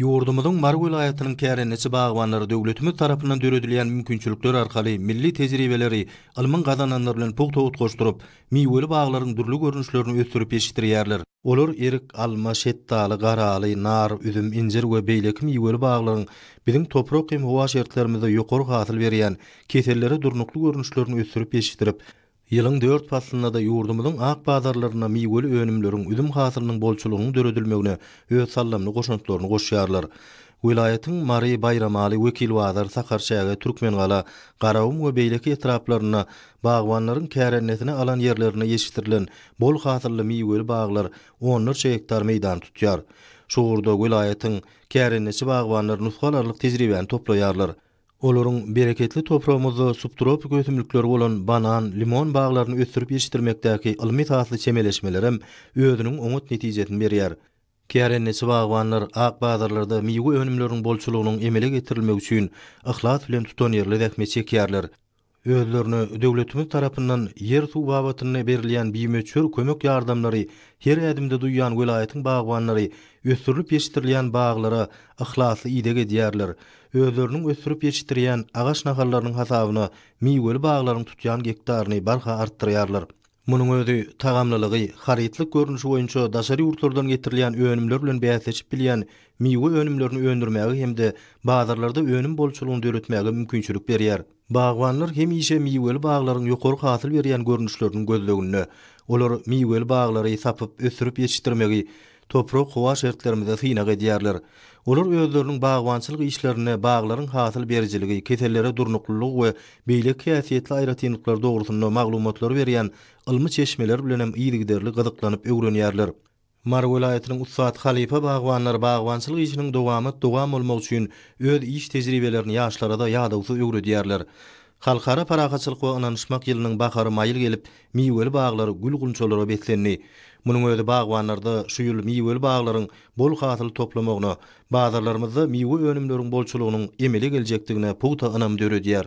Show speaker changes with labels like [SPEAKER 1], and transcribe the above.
[SPEAKER 1] Ýurdumyzyň Mary welaýatynyň kärendeçi bagbanlary döwletimiz tarapyndan döredilýän mümkinçilikler arkaly milli tejribeleri ylmyň gazananlary bilen pugta utgaşdyryp, miweli baglaryň dürli görnüşlerini ösdürip ýetişdirýärler. Olar erik, alma, şetdaly, garaly, nar, üzüm, injir we beýleki miweli baglaryň biziň toprak hem howa şertlerimizde ýokary hasyl berýän, kesellere durnukly görnüşlerini ösdürip ýetişdirip, Ýylyň dört paslynda-da ýurdumyzyň ak bazarlarynda miweli önümleriň, üzüm hasylynyň bolçulygynyň döredilmegine öz saldamly goşantlaryny goşýarlar. Welaýatyň Mary, Baýramaly, Wekilbazar, Sakarçäge, Türkmengala, Garagum we beýleki etraplarynda bagbanlaryň kärendesine alan ýerlerinde ýetişdirilen bol hasylly miweli baglar onlarça gektar meýdany tutýar. Şu ugurda welaýatyň kärendeçi bagbanlary nusgalarlyk tejribäni toplaýarlar. Olaryň bereketli topragymyzda subtropik ösümlikleri bolan banan, limon baglaryny ösdürip ýetişdirmekdäki ylmy esasly çemeleşmelerem özüniň oňat netijesini berýär. Kärendeçi bagbanlar ak bazarlarda miwe önümleriniň bolçulygynyň emele getirilmegi üçin yhlas bilen tutanýerli zähmet çekýärler. özlerine döwletimiz tarapyndan ýer-suw babatynda berilýän bimöçber kömek-ýardamlary, her ädimde duýýan welaýatyň bagbanlary ösdürilip ýetişdirilýän baglara yhlasly ideg edýärler, özleriniň ösdürip ýetişdirýän agaç nahallarynyň hasabyna miweli baglaryň tutýan gektaryny barha artdyrýarlar. Munuň özi tagamlylygy, harytlyk görnüşi boýunça daşary ýurtlardan getirilýän önümler bilen bäsleşip bilýän miwe önümlerini öndürmäge hem-de bazarlarda önüm bolçulygyny döretmäge mümkinçilik berýär. Bagbanlar hemişe miweli baglaryň ýokary hasyl berýän görnüşleriniň gözleginde. Olar miweli baglary sapyp, ösdürip ýetişdirmegi, toprak-howa şertlerimizi synag edýärler. Olar özleriniň bagbançylyk işlerinde baglaryň hasyl berijiligi, kesellere durnuklylygy we beýleki häsiýetli aýratynlyklary dogrusynda maglumatlary berýän ylmy çeşmeler bilen hem yzygiderli gyzyklanyp öwrenýärler. Mary welaýatynyň ussat halypa bagbanlary bagbançylyk işiniň dowamat dowam bolmagy üçin öz iş tejribelerini ýaşlara-da ýadawsyz öwredýärler. Halkara parahatçylyk we ynanyşmak ýylynyň bahary maýyl gelip, miweli baglar gül-gunçalara beslendi. Munuň özi bagbanlarda şu ýyl miweli baglaryň bol hasyl toplamagyna, bazarlarymyzda miwe önümleriň bolçulygynyň emele geljekdigine pugta ynam döredýär.